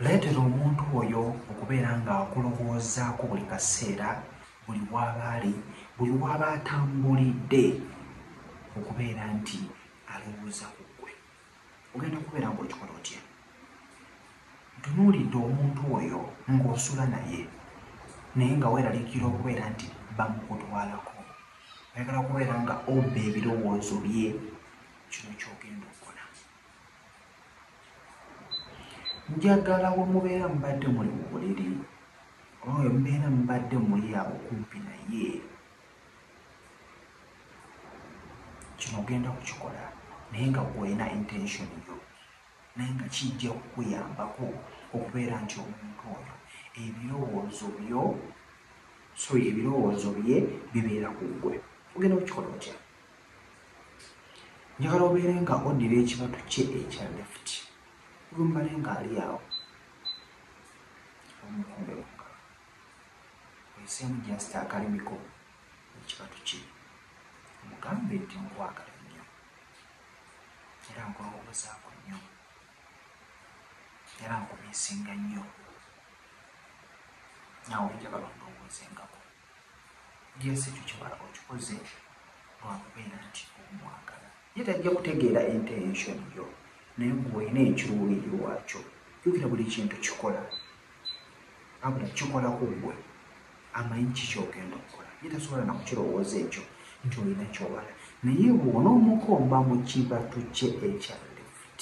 Leetera omuntu oyo okubeera ng'akulowoozaako buli kaseera, buli w'aba ali, buli w'aba atambulidde, okubeera nti alowooza ku ggwe. Ogenda kubeera ng'okikola otya? Ntunuulidde omuntu oyo ng'osula naye, naye nga weeraliikira okubeera nti bamukutwalako. Oyagala kubeera nga obba ebirowoozo bye. Kino ky'ogenda okukola. njagala wemubeera mubadde muli mu buliri oba wemubeera mubadde muli awo kumpi naye kino ogenda kukikola naye nga gwolina intention yo naye nga kijja kukuyambako okubeera nti omuntu oyo ebirowoozo byo sorry ebirowoozo bye bibeera ku ggwe ogenda kukikola otya njagala obeere nga odira ekibatu kye ekya left olumbale ng'ali awo omukombe waka oyiseemu just akalimiko ekibatu kye omugambe nti nkwagala nnyo era nkulowoozaako nnyo era nkumiisinga nnyo nawe njagala ondowooze ngako yes ekyo kiba okikoze lwakubeera nti omwagala ye tajja kutegeera intention yo naye gweolina ekiruubiri lwakyo jukira buli kintu kikola abula kikola ku gwe amanyi kikyogenda okukola ye tasobola nakukirowooza ekyo nti olina kyowala naye bwona omukomba mu kibatu kye ekya left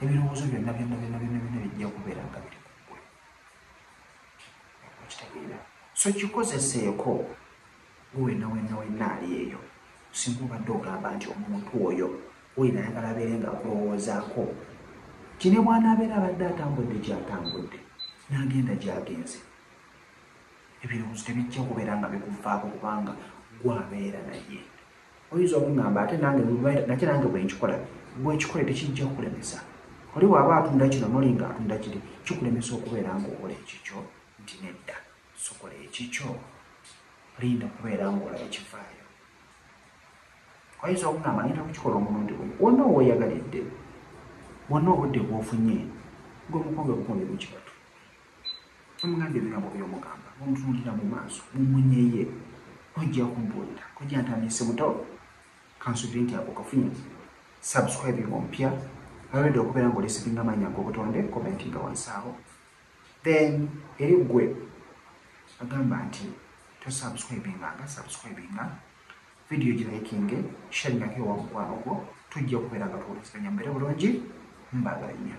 ebirowoozo byonna byonna byonna byonna byonna bijja kubeera nga biri so kikozeseeko wena wena wena ali eyo singa obadde ogamba nti omuntu oyo wulira ayagala abeere nga akulowoozaako ti ne bwanaabeera abadde atambudde gyatambudde n'agenda gyagenze ebirowoozo tebijja kubeera nga bikuvaako kubanga gwabeera naye oyinza okungamba ate nange nate nange bwenkikola bwekikole tekijja okulemesa oli waaba atunda kino noli nga atunda kiri kikulemesa okubeera ngaokola ekikyo nti nedda sokola ekikyo linda kubeera ngaola ekivaayo oyinza okungamba ngenda kukikola omulundi gwe wonna oweyagalidde wonna obudde bwofunye gwemukombe bukombe bukibatu omugambye ebirabo byomugamba omutunulira mu maaso mumunyeye ojja kumbuulira ojja ntandise muto kansubire nti ako kafunye subscribe nga omupya already okubeera nga olisitinga amaanyi agobutonde komenti nga wansaawo then eri ggwe agamba nti tosubscribinga nga subscribinga vidiyo girayikinge shalingako ewa mukwano gwo tujja okubeera nga tuwuliziganya mbeere bulungi mbaagala nnyo